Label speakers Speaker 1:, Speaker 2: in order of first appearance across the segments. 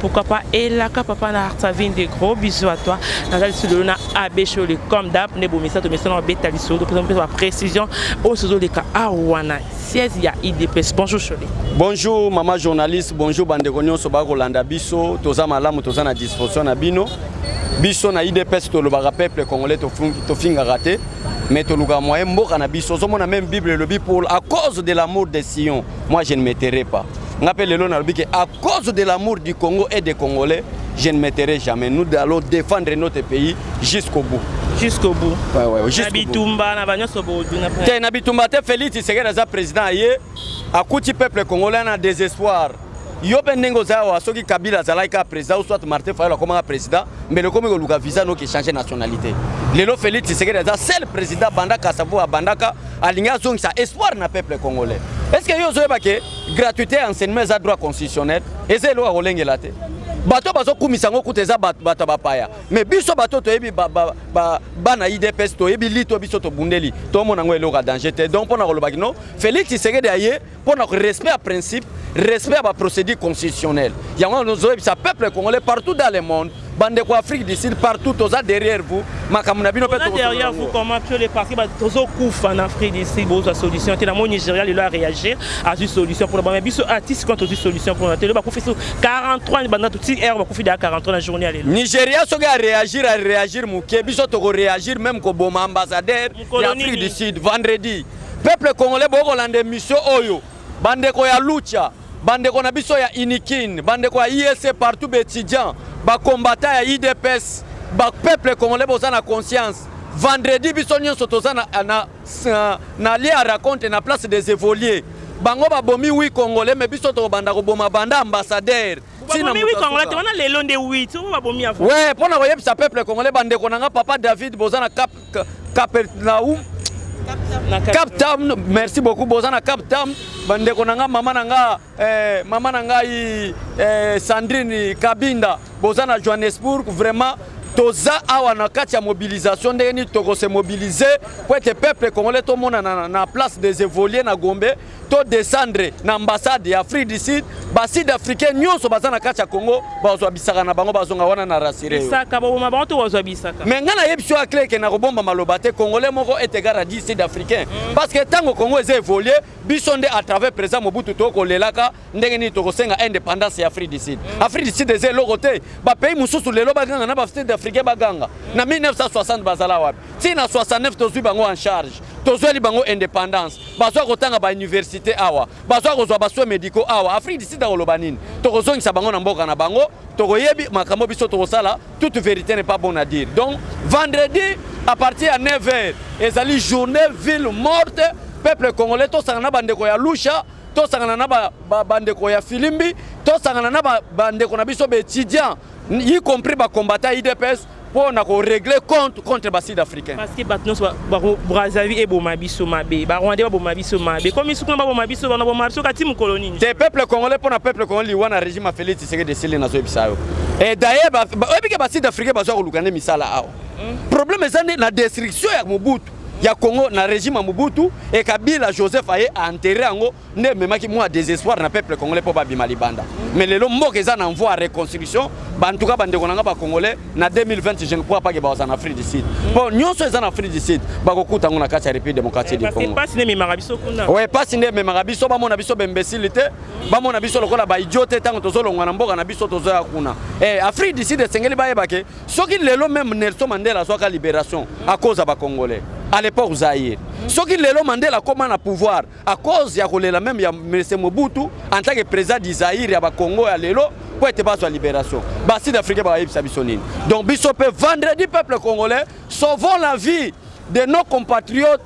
Speaker 1: Pourquoi pas Elaka papa na Artavine des gros bisous à toi. Naza lisolo na AB show le comme d'hab ne bomisa to mesana beta lisolo to pesa ba précision o sozo le ka awana siège ya IDPS. Bonjour Shole. Bonjour maman
Speaker 2: journaliste, bonjour bande ko nyonso ba ko landa biso, toza malamu toza na disposition na bino. Biso na IDPS to lobaka peuple congolais to fungi to finga raté. Mais to luka moyen mboka na biso. Zo mona même Bible lobi pour à cause de l'amour de Sion. Moi je ne me tairai pas. Nga pe lelo nalobi que à cause de l'amour du Congo et des Congolais, je ne me tairai jamais. Nous allons défendre notre pays jusqu'au bout. Jusqu'au bout. Ouais,
Speaker 1: ouais, jusqu'au bout. Nabitumba
Speaker 2: na banyo sobo duna. Te nabitumba te Félix Tshisekedi aza président aye akuti peuple congolais na désespoir. yo mpe ndenge oza awa soki kabila azalaki kaka président ou soit martin fayolo akomaka président mbele okomi koluka visa noki échange nationalité lelo félix tshisekedi aza seul président abandaka sabu abandaka alingi azongisa espoir na peuple congolais est ce que yo ozoyeba ke gratuité ya enseignement eza droit constitutionnel eza eloko ya kolengela te bato bazokumisa yango kuta eza bato ya bapaya mais biso bato toyebi bana ba, ba, ba idps toyebi lito biso tobundeli tomona yango eloko ya danger te donc mpo na koloba kino félix tshisekedi aye mpo na respect ya principe respect ya baprocédure constitutionnelle yango nozoyebisa peuple congolais partout dans le monde bandeko ya afrique du sud partout toza derrière vous makambo na bino mpe derrière vous comment
Speaker 1: que les parti tozokufa na afrique du sud bozwa solution te na moi nigeria lelo aréagir azwi solution mpona bana biso artiste ah, quand tozwi solution mpona te lelo bakufi so 43 banda toti heure bakufi deya 43 na journée ya lelo nigeria soki aréagir
Speaker 2: aréagir moke biso tokoréagir même koboma ambassadeur ya afrique du sud vendredi Peuple congolais bokolanda emission oyo bandeko ya lucha bandeko na biso ya unikin bandeko ya ISC partout baétudiant bacombatant ya idps bapeuple congolais boza na conscience vendredi biso nyonso toza na, na, na, na lie ya raconte na place des évoluer bango babomi wi congolais me biso tokobanda koboma banda ambassadeur
Speaker 1: we mpo na koyebisa peuple
Speaker 2: congolais bandeko na nga papa david boza na cap Capernaum Cap Town merci beaucoup boza na Cap Town bandeko na nga mama na nga eh, mama na ngai eh, Sandrine Kabinda boza na Johannesburg vraiment toza awa na kati ya mobilisation ndenge nini tokose mobilize mpo ete peuple congolais tomonana na place des évoluer na gombe to descendre na ambassade ya Afrique du Sud ba sud africain nyonso baza na kati ya Congo bazwa bisaka na bango bazonga wana na rasire bisaka baboma bango to
Speaker 1: bazwa bisaka mais ngai nayebi sio akle
Speaker 2: ke na kobomba maloba te congolais moko est égal à 10 sud africain mm. parce que ntango Congo eza évolué biso nde à travers président Mobutu to kolelaka ndenge nini tokosenga indépendance ya Afrique du Sud mm. Afrique du Sud eza eloko te ba pays mosusu lelo baganga na ba sud africain baganga mm. na 1960 bazala wapi ti na 69 tozwi bango en charge tozweli bango indépendance bazoya kotanga ba université awa bazoya kozwa ba soins médicaux awa afrique du sud akoloba nini tokozongisa bango na mboka na bango tokoyebi makambo biso tokosala toute vérité n'est pas bon à dire donc vendredi à partir ya 9 heures ezali journée ville morte peuple congolais tosangana na bandeko ya lusha tosangana na bandeko ba, ba ya filimbi tosangana na bandeko ba na biso baétudiant y compris bacombatant idps mpo na koregle compte contre ba sud africain parce que bato nyonso
Speaker 1: brazzaville eboma biso mabe barwandais baboma biso mabe komi sukuna baboma biso bana boma biso kati mokolo nini te peuple congolais mpo na
Speaker 2: peuple congolais liwa na régime ya félix tshisekedi esili nazoyebisa yo e daye oyebike ba sud africain bazwa koluka nde misala awa hmm. problème eza nde na destruction ya mobutu ya congo na régime ya mobutu e kabila joseph aye a enterre yango nde ememaki mwa desespoir na peuple congolais mpo babima libanda mais lelo mboka eza na mvoi ya reconstruction bantuka bandeko na ngai bacongolais na 2020 je ne crois pas ke bakozala na afrique du sud mpo nyonso eza na afrique du sud bakokuta yango na kati ya république démocratique du congo pasi nde ememaka biso
Speaker 1: kuna oye pasi nde ememaka
Speaker 2: biso bamona biso bembesili te bamona biso lokola baidio te ntango tozolongwa na mboka na biso tozoya kuna e afrique du sud esengeli bayeba ke soki lelo meme nelson mandela azwaka libération akoza bacongolais à l'époque zaire soki lelo mandela akoma na pouvoir à cause ya kolela meme ya Mese Mobutu en tant que président du Zaïre ya ba Congo ya lelo po ete bazwa liberation ba sud africain bakayebisa biso nini donc biso mpe vendredi peuple congolais sauvons la vie de nos compatriotes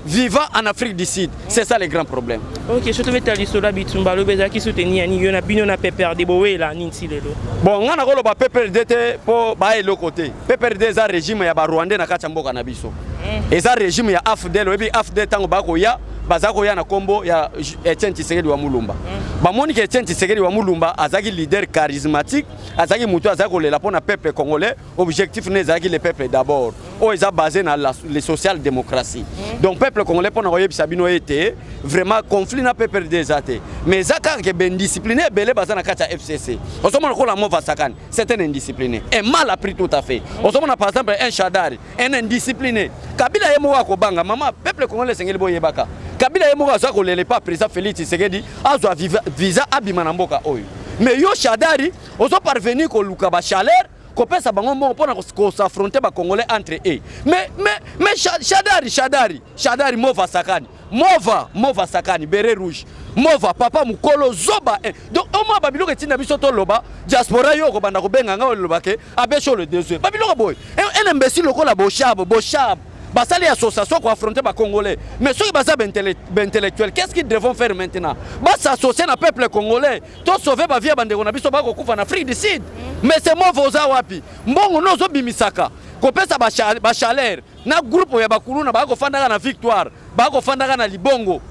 Speaker 2: vivant en Afrique du Sud. C'est ça le grand problème. Ok, je te mets à
Speaker 1: l'isolo bitumba lo bezaki soutenir ni yona bino na PPRD bowe la ninti lelo. Bon, ngana ko lo ba
Speaker 2: PPRD te po ba eloko te. PPRD za régime ya ba Rwandais na kati ya mboka na biso. eh. eza regime ya afdel oyebi afdel ntango bakoya baza koya na nkombo ya Etienne Tshisekedi wa Mulumba mm. bamoni ke Etienne Tshisekedi wa Mulumba azalaki leader charismatique azalaki motu azalaki kolela mpo na peuple congolais objectif ne ezalaki le peuple d'abord mm. oyo eza basé na le social démocratie mm. donc peuple congolais mpo na koyebisa bino ete vraiment conflit na pprd eza te mais eza kaka ke baindiscipline ebele baza na kati ya fcc ozomona kola mova sakani c'est un indiscipliné un mal appris tout à fait ozomona par exemple un shadari un indiscipliné kabila ye moko akobanga mama peuple congolais esengeli boyebaka kabila ye moko aza kolela epa président félix tshisekedi azwa visa abima na mboka oyo mais yo shadari ozo parvenir koluka bachaleur kopesa bango mbongo mpona kosafronte bacongolais entre e mais, mais, mais shadari shadari shadari mova sakani Mova, Mova Sakani, Beret Rouge. Mova, papa mukolo zoba. Eh. Donc au moins babiloko etinda biso to loba, diaspora yo ko banda ko benga nga loba ke abeso le désir. Babiloko boy. Eh, un imbécile lokola Boshab, Boshab. basali association koaffronte bacongolais mais soki baza baintellectuel qu'est ce qu'ils devront faire maintenant basassocie na peuple congolais tosauve bavie ya bandeko na biso bakokufa na afrique du sud mais se move oza wapi mbongo no ozobimisaka kopesa bachaleur na groupe ya bakuluna baya kofandaka na victoire baya kofandaka na libongo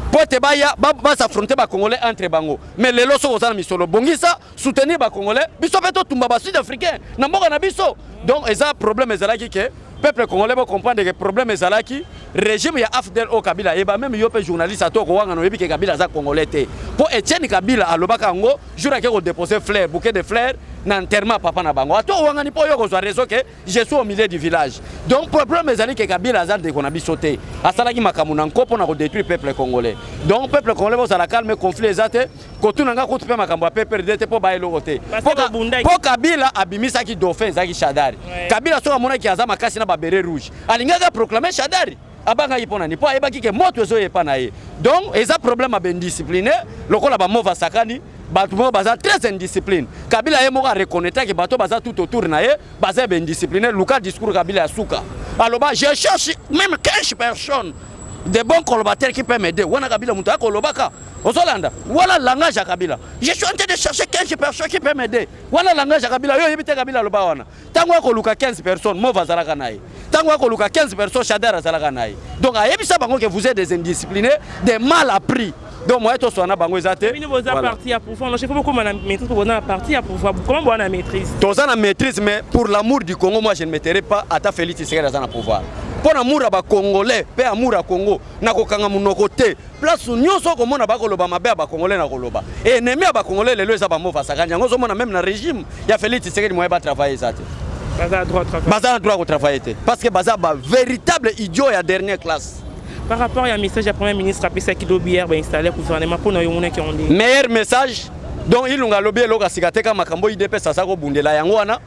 Speaker 2: mpo ete baya basafronte bacongolais entre bango mais lelo soki oza na misolo bongisa soutenir bacongolais biso mpe totumba basud africain na mboka na biso donc eza problème ezalaki ke peuple congolais bocomprendre ke problème ezalaki régime ya afdel o kabila ayeba meme yo mpe journaliste ato okowangana oyebi ke kabila aza congolais te mpo etienne kabila alobaka yango jour ake kodepose flaire bouquet de flaire na enterrement papa na bango ato owangani mpo yo kozwa réseau ke je suis au milieu du village donc problème ezali ke kabila aza ndeko na biso te asalaki makambo na nko mpo na kodétruire peuple congolais donc peuple congolais bozala calme conflit eza te kotuna nga kutu mpe makambo ya pprd te mpo baya eloko te mpo kabila abimisaki dauphin ezalaki shadari kabila soki amonaki aza makasi na babere rouge alingaki aproclame shadari abangaki mpo na nini? Mpo ayebaki ke moto ezoya epa na ye, donc eza problème ya baindiscipline lokola bamova sakani bato moko baza très indiscipline. Kabila ye moko areconnetaki bato baza tout autour na ye baza baindiscipline. Luka discours Kabila ya suka aloba je cherche même 15 personnes de bons colbateurs qui peuvent m'aider. Wana Kabila moto akolobaka ozolanda wana langage ya kabila je suis en train de chercher 15 personnes qui peut m'aider wana langage ya kabila yo oyebi te kabila aloba wana ntango akoluka 15 personnes move azalaka na ye ntango akoluka 15 personnes shader azalaka na ye donc ayebisa bango ke vous êtes des indisciplinés des mal appris donc moye toswa na bango eza te
Speaker 1: toza na maîtrise
Speaker 2: mais pour l'amour du congo moi je ne mettrai pas ata félix tshisekedi aza na pouvoir mpo na amour ya bacongolais mpe amour ya congo nakokanga monoko te place nyonso okomona bakoloba mabe ya bakongole na koloba enemi ya bakongole lelo eza bamova asakani yango ozomona meme na régime ya félix tshisekedi moye batravaille eza te
Speaker 1: baza na droit ya kotravaille te
Speaker 2: parce que baza ba véritable idiot ya dernière classe par rapport ya
Speaker 1: message ya premier ministre apesaki lobi hier bainstalle gouvernement mpo na yo omonaki yango ndenge meilleur message
Speaker 2: donc ilunga alobi eloko asika te ka makambo idps aza kobundela yango wana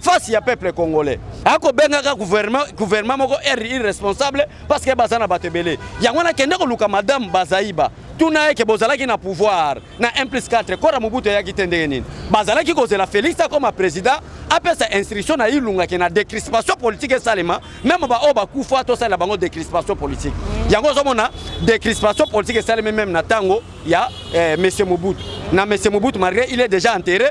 Speaker 2: face ya peuple congolais akobengaka gouvernement moko r irresponsable parce que baza na bato ebele yango wana kende koluka madame bazaiba tuna yeke bozalaki na pouvoir na 1 plus 4 kora mobutu eyaki te ndenge nini bazalaki kozela félix akoma président apesa instruction na ilungaki na décrispation politique esalema meme baoyo bakufa tosalela bango décrispation politique yango ozomona décrispation politique esalemi meme na ntango ya eh, monsieur mobutu na monsieur mobutu malgré il est déjà enterré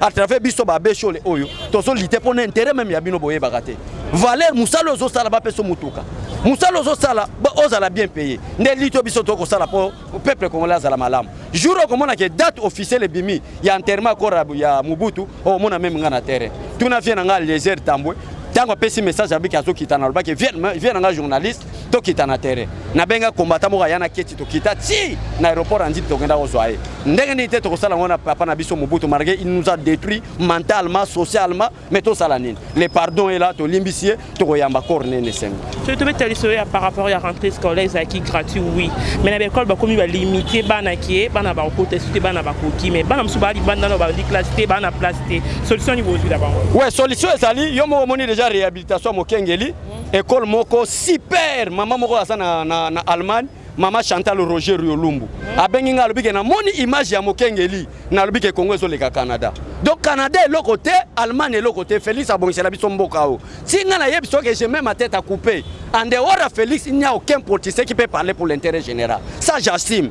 Speaker 2: à travers biso ba beshole oyo tozo lite pona intérêt même ya bino boyebaka te valeur musala ozo sala ba peso mutuka musala ozo sala ba ozala bien payé nde lito biso to ko sala po peuple congolais azala malamu jour okomona ke date officielle ebimi ya enterrement kora ya Mobutu omona meme nga na terrain tuna vie na nga Eliezer Tambwe ntango apesi message abiki azokitana alobaki vie na nga journaliste tokita na terrain nabenga kombata moko aya na keti tokita ti na aéroport ya nzip tokenda kozwa ye ndenge nini te tokosala yango na papa na biso mobutu marge il nous a détruit mentalement socialement mais tosala nini le pardon ela tolimbisi ye tokoyamba corps nene esengo soki tobeta lisolo ya
Speaker 1: par rapport ya rentrée scolaire ezalaki gratuit oui mais na baekole bakomi balimite bana ke bana bakokota esu te bana bakoki mais bana mosusu baali banda na bandi classe te bana place te solution nini bozwi na bango ouais solution ezali
Speaker 2: yo moko omoni déjà réhabilitation ya mokengeli Ecole moko super mama moko aza na, na, na Allemagne mama Chantal Roger Riolumbu mm. abengi nga alobi ke namoni image ya mokengeli nalobi ke Congo ezoleka Canada donc Canada eloko te Allemagne eloko te Felix abongisela biso mboka o ti nga nayebi so ke je mets ma tête à couper en dehors ya Felix il n'y a aucun politicien qui peut parler pour l'intérêt général ça j'assume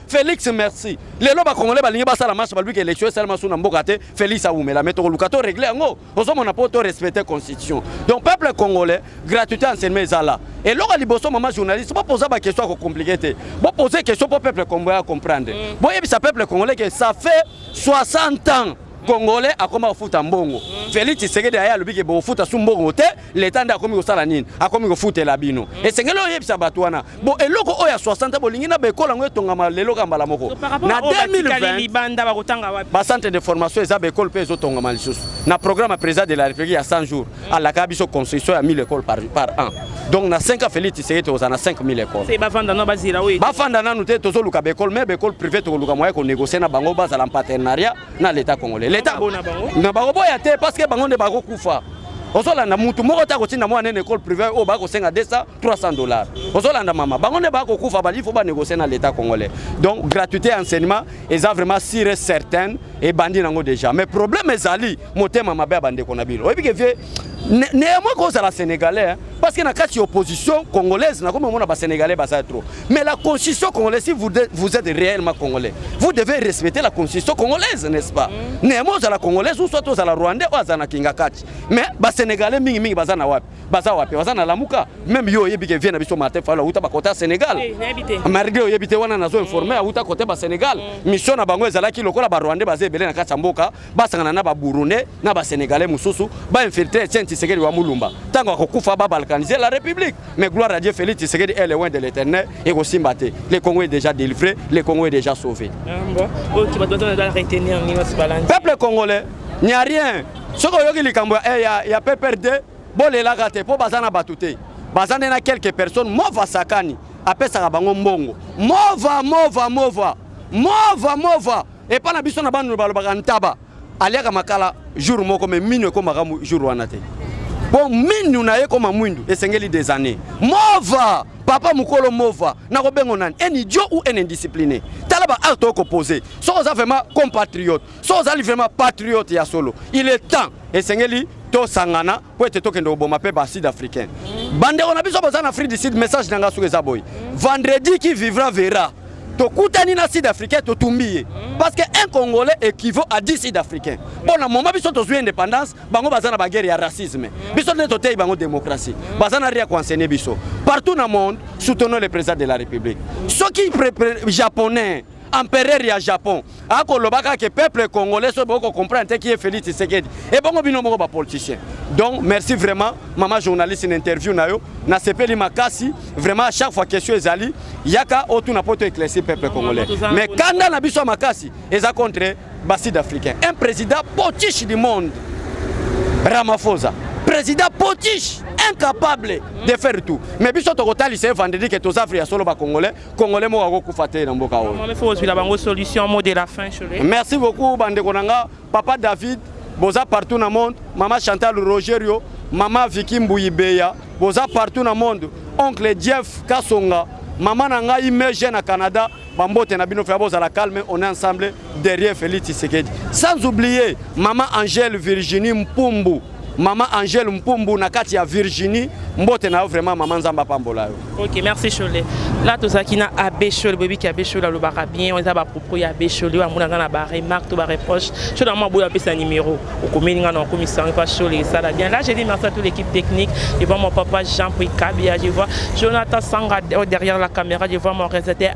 Speaker 2: Felix merci. Lelo ba congolais balingi basala marche baluki election esala masu na mboka te. Felix awumela mais tokoluka to régler yango. Ozo mona po to respecter constitution. Donc peuple congolais gratuité enseignement ezala. eloko liboso mama journaliste bopoza baquestion ya kocomplike te bopoze question mpo peuple congolais ya comprendre mm. boyebisa peuple congolais ke ça fait 60 ans congolais akoma kofuta mbongo mm. Felix Tshisekedi aye alobi ke bokofuta su mbongo te leta nde akomi kosala nini akomi kofutela bino mm. esengeli oyebisa bato wana bo eloko oyo ya 60 bolingi na bekola yango etongama lelo ka mbala moko na 2020
Speaker 1: bacentre de formation eza
Speaker 2: bekole mpe ezotongama lisusu na programme ya président de la république ya 100 jours alaka biso construction ya 1000 écoles par, par an donc na 5 ans félix tshisekedi tokozala na 5000 écoles bafanda nano bazela
Speaker 1: oyo bafanda nanu te tozoluka
Speaker 2: baekole mais baekole privé tokoluka moye konégocier na bango bazala en partenariat na l'état congolais l'état na bango boya te parce que bango nde bakokufa ozolanda mutu moko te akotinda mwana nene école privé oyo bakosenga 200 300 dollars ozolanda mama bango nde bakokufa bali fo banégocie na l'état congolais donc gratuité ya enseignement eza vraiment sire certaine ebandi nango deja mais problème ezali motema mabe ya bandeko na bino oyebi ke vie néanmoins kozala sénégalais hein, parce que na kati ya opposition congolaise nakomi omona basénégalais baza trop mais la constitution congolaise si vous, de, vous êtes réellement congolais vous devez respecter la constitution congolaise n'est-ce pas mm. néanmoins ozala congolaise ou soit ozala rwandais oyo azala na kingakati mais basénégalais mingimingi baza na wapi baza wapi baza na lamuka meme yo oyebi ke vie na biso martin fayulu awuta bakote ya sénégal marigre oyebi te wana nazo informe awuta kote ba sénégal mm. mission na bango ezalaki lokola barwandais baza ebele na kati ya mboka basangana na baburundais na basénégalais mosusu bainfiltre tien tisekedi wa mulumba ntango akokufa babalkanise la république mais gloire à dieu félix tisekedi est loin de l'éternel ekosimba te le congo est déjà délivré le congo est déjà sauvé
Speaker 1: ah, peuple congolais
Speaker 2: n'y a rien soki oyoki likambo ya, eh, ya, ya pprd bolelaka te mpo baza na bato te baza nde na quelques personnes mova sakani apesaka bango mbongo mova mova mova mova mova epai na biso na banu balobaka ntaba aliaka makala jour moko me minu ekomaka jour wana te mpo minu na ye ekoma mwindu esengeli des années mova papa mokolo mova nakobengo nani un idiot ou un indiscipliné tala ba acte okopose soki oza vraiment compatriote so ozali vraiment patriote ya solo il est temps esengeli tosangana mpo ete tokende koboma mpe ba sud africain bandeko na biso boza na afrique du sud message na ngai soki eza boye vendredi qui vivra verra tokutani na sud africain totumbi ye parce que un congolais équivaut à 10 sud africain mpo na moma biso tozwi indépendance bango baza na baguerre ya racisme biso nde toteyi bango démocratie baza na ria koenseigne biso partout na monde soutenons le président de la république soki japonais empereur ya Japon akoloba kaka ke peuple congolais soki boko comprendre te kiye Felix Tshisekedi ebongo bino moko ba politiciens donc merci vraiment mama journaliste na interview na yo nasepeli makasi vraiment à chaque fois question ezali yaka otuna mpo to éclaircir peuple congolais mais kanda na biso ya makasi eza contre ba sud africain un président potiche du monde Ramaphosa président potiche incapable de faire tout mais biso tokotalisa ye vendredi ke tozafre ya solo ba congolais congolais moko akokufa te na mboka oyo ozwila bango solution
Speaker 1: mot de la fin chole merci beaucoup bandeko
Speaker 2: na nga papa david boza partout na monde mama chantal rogerio mama viki mbuyibeya boza partout na monde oncle jeff kasonga mama na ngai meje na canada bambote na bino fya bozala calme on est ensemble derrière Félix Tshisekedi. Sans oublier Maman Angèle Virginie Mpumbu. Maman Angèle Mpumbu na kati ya Virginie mbote na yo vraiment maman Nzamba pambola yo. OK, merci Shole.
Speaker 1: Là tozaki na Abbé Shole, bobi ki Abbé Shole alobaka bien, on eza ba propos ya Abbé Shole, wa mona na ba remarques to ba reproches. Shole na mwa boya pesa numéro. Okomeli nga na okomi sangi pa Shole esala bien. Là je dis merci à toute l'équipe technique, je vois mon papa Jean Prikabi, je vois Jonathan Sanga oh, derrière la caméra, je vois mon réalisateur